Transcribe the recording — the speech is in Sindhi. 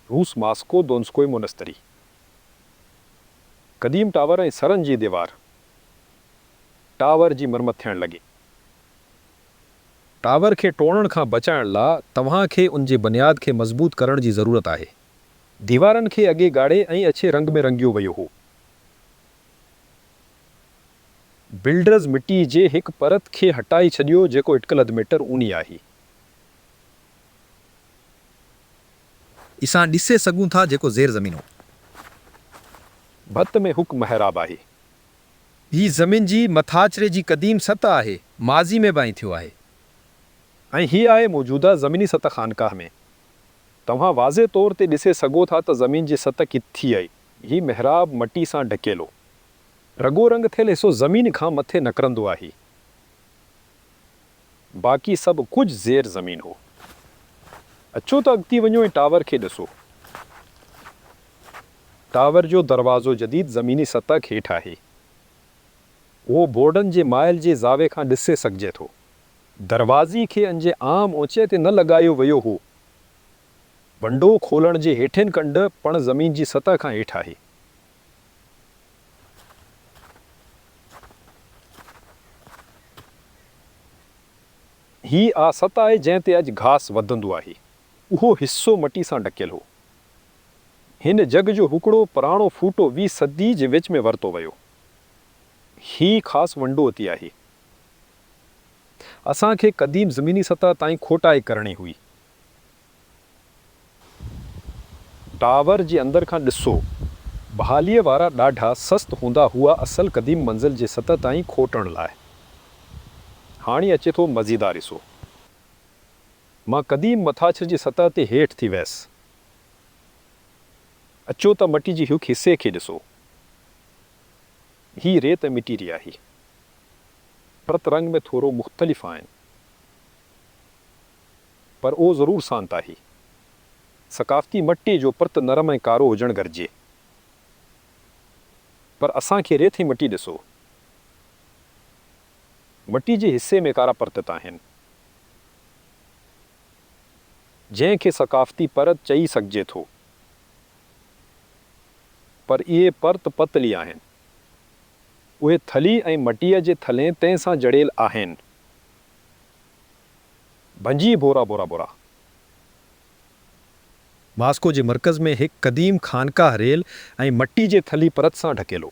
روس ماسڪو دونسڪوئي مونستري، قديم ٽاور ۽ سرن جي ديوار، ٽاور جي مرمت ٿيڻ لڳي. ٽاور کي ٽوڙڻ کان بچائڻ لا توهان کي ان جي بنياد کي مضبوط ڪرڻ جي ضرورت آهي. ديوارن کي اڳي ڳاڙهي ۽ اڇي رنگ ۾ رنگيو ويو هو. بلڊرز مٽي جي هڪ پرت کي هٽائي ڇڏيو جيڪو اٽڪل اڌ ميٽر اونهي آهي. اسان ڏسي سگهون ٿا جيڪو زير زمين هو. ڀت ۾ هڪ محراب آهي. هي زمين جي مٿاڇري جي قديم سطح آهي. ماضي ۾ به ائين ٿيو آهي. ۽ هي آهي موجوده زميني سطح خانقاهه ۾. توهان واضح طور تي ڏسي سگهو ٿا ته زمين جي سطح ڪيت ٿي آهي. هي محراب مٽي سان ڍڪيلو. رڳو رنگ ٿيل حصو زمين کان مٿي نڪرندو آهي. باقي سڀ ڪجهه زير زمين هو. اچو ته اڳتي وڃو ۽ ٽاور کي ڏسو. ٽاور جو دروازو جديد زميني سطح کي هيٺ آهي. اهو بورڊن جي مائل جي زاويي کان ڏسي سگهجي ٿو. دروازي کي انجي عام اوچائي تي نه لڳايو ويو هو. ونڊو کولڻ جي هيٺين ڪنڊ پڻ زمين جي سطح کان هيٺ آهي. هي اها سطح آهي جنهن تي اڄ گهاس وڌندو آهي. اهو حصو مٽي سان ڍڪيل هو. هن جڳھ جو هڪڙو پراڻو ڦوٽو ويهه صدي جي وچ ۾ ورتو ويو. هي خاص ونڊوتي آهي. اسان کي قديم زميني سطح تائين کوٽائي ڪرڻي هئي. ٽاور جي اندر کان ڏسو. بحاليء وارا ڏاڍا سست هوندا هئا اصل قديم منزل جي سطح تائين کوٽڻ لاء. هاڻي اچي ٿو مزيدار حصو. مان قديم مٿاڇر جي سطح تي هيٺ ٿي ويس. اچو ته مٽي جي هڪ حصي کي ڏسو. هي ريت ۽ مٽي ري آهي. پرت رنگ ۾ ٿورو مختلف آهن. پر اهو ضرور سانت آهي. ثقافتي مٽي جو پرت نرم ۽ ڪارو هجڻ گهرجي. پر اسان کي ريت ۽ مٽي ڏسو. مٽي جي حصي ۾ ڪارا پرت ته آهن. جنهن کي ثقافتي پرت چئي سگهجي ٿو. پر اهي پرت پتلي آهن. اهي ٿلهي ۽ مٽيء جي ٿلهين تهه سان جڙيل آهن. ڀڃي ڀورا ڀورا ڀورا. ماسڪو جي مرڪز ۾ هڪ قديم خانقاهه ريل ۽ مٽي جي ٿلهي پرت سان ڍڪيل هو.